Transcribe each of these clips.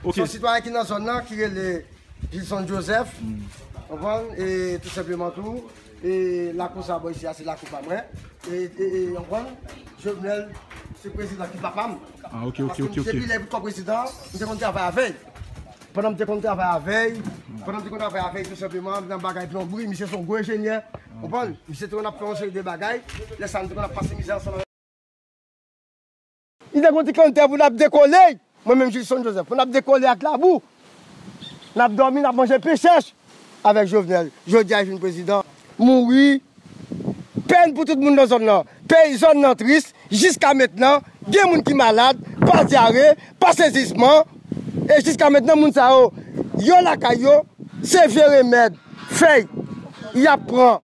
Se yon sitwayen ki nan zòn nan ki rele Gilson Joseph, ou konprann, e tou senpleman tou, e lakou sa bò isi a se lakou pa mwen, e, e, e, ou konprann, Jovenel se prezidan ki papa m, paske m depi lè li te prezidan, m te konn travay avè l. Pandan m te konn travay avèy, pandan m te konn travay avèy tou senpleman nan bagay plonbri, misye son gwo enjenyè, konprann, misye te konn ap fè yon seri de bagay, lè sa nou te konn ap pase mizè ansanm avèk. Li te konn di konn tè pou nap dekole, mwen menm Jilson Joseph, pou nap dekole ak labou, nap dòmi, nap manje pen chèch. Avek jovenel jodia li vin prezidan. Mouri. Pèn pou tout moun nan zòn nan. Peyi zòn nan tris jiska mentnan gen moun ki malad pa dyare, pa sezisman e jiska mentnan moun sa yo yo lakay yo se vye remèd fèy yap pran.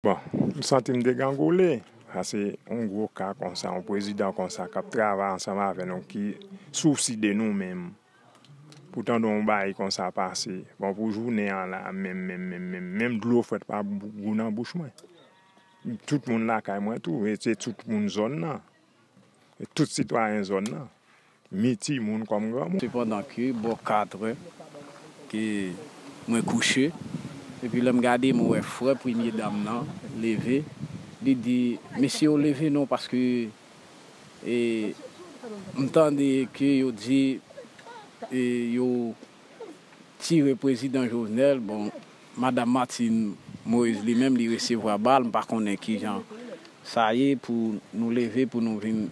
Bon, m santi m degangole, sa se yon gwo ka konsa, yon prezidan konsa k ap travay ansanm avè nou, ki sousi de nou menm. Pou tande yon bagay konsa pase, bon pou jounen an la menm menm menm menm, menm dlo frèt pa gou nan bouch mwen. Tout moun lakay mwen tou, se tout moun zòn nan. tout sitwayen zòn nan, ni timoun kòm granmoun. Se pandan ke bò katrè ke mwen kouche, epi lè m gade mwen wè frè premye dam nan leve, li di, Mesye yo leve non paske e m tande ke yo di e yo. tire prezidan Jovenel bon madam Martine Moise li menm li resevwa bal m pa konnen kijan sa ye pou nou leve pou nou vin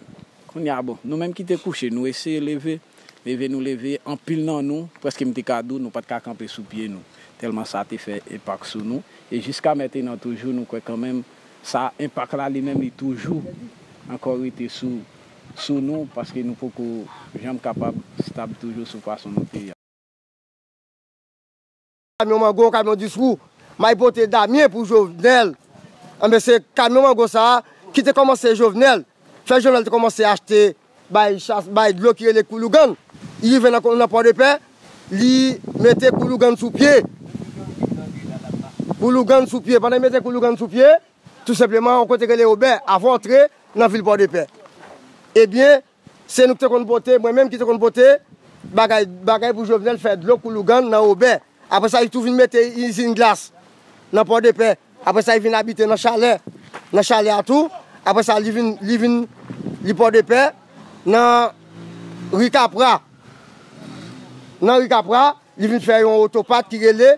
kounya bon nou menm ki te kouche nou eseye leve leve nou leve anpil nan nou preske m te ka di w nou pat ka kanpe sou pye nou tèlman sa te fè enpak sou nou e jiska mentenan toujou nou kwè kanmenm sa enpak la li menm li toujou ankò rete sou. sou nou paske nou poko janm kapab stab toujou sou fason nou te. Kamyon mango, kamyon 10 wou may pote Damien pou Jovenel enben se kamyon mango sa a ki te kòmanse Jovenel fè Jovenel te kòmanse achte bay chas bay dlo ki rele Koulougan li rive nan nan Pòdepè li mete Koulougan sou pye Koulougan sou pye pandan li mete Koulougan sou pye. Tou senpleman yon kote rele obè avan w antre nan vil Pòdepè. Ebyen, se nou ki te konn pote, mwen menm ki te konn pote bagay bagay pou Jovenel fè dlo kou lougan nan obè. Apre sa li tou vin mete izin glas nan Pòdepè. Apre sa li vin abite nan chalè nan chalè a tou. Apre sa li vin li vin li Pòdepè nan ri Kapra. Nan ri Kapra li vin fè yon otopat ki rele.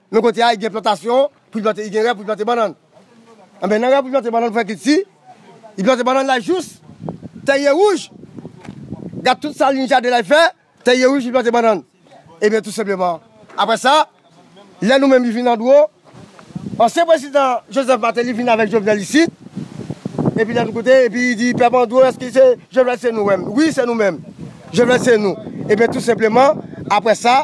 Nan kote a, gen plantasyon pou li plante, gen rè pou li plante bannann. Enben, nan rè pou li plante bannann pou fè kilti, li plante bannann la jous tè ye wouj. Gad tout sa liy jaden la fè, tè ye wouj li plante bannann. Enben, tou senpleman, apre sa, lè nou menm li vin andwo, ansyen prezidan Joseph Martelly vin avèk Jovenel isit, epi lè nou koute, epi li di, pèp andwo, èske se Jovenel se nou menm? Wi, se nou menm. Jovenel se nou. Enben, tou senpleman, apre sa.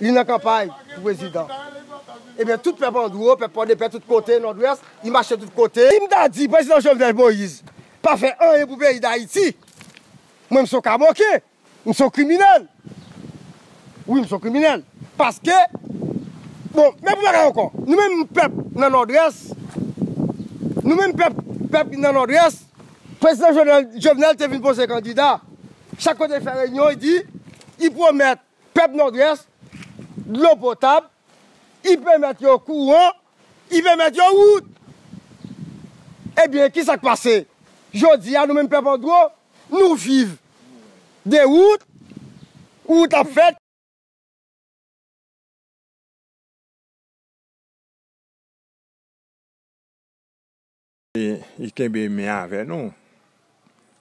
Li nan kanpay pou prezidan. Ebyen tout pèp andro, pèp pòdepè tout kote nòdwès, li mache tout kote. Sim ta di prezidan Jovenel Moïse pa fè anyen pou peyi dayiti, mwen m son kamoken, m son kriminèl. Wi m son kriminèl. Paske bon men pou bagay ankò, nou menm pèp nan nòdwès, nou menm pèp pèp ki nan nòdwès, prezidan Jovenel te vin poze kandida, chak kote li fè reyinyon li di, li pwomèt. Pèp Nòdwès, dlo potab, y pèmèt yo kouran, y pèmèt yo wout! Ebyen, kisa k pase? Jodi a, nou menm pèp andwo, nou viv de wout, wout ap fèt. Li kenbe men avè nou.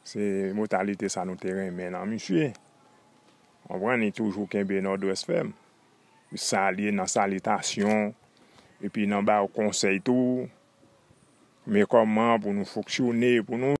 Se motalite sa nou te renmen nan misye. Konprann? Li toujou kenbe Nòdwès fèm. Li salye nan salitasyon, epi nan ba ou konsèy tou. Men kòman pou nou fonksyone, pou nou.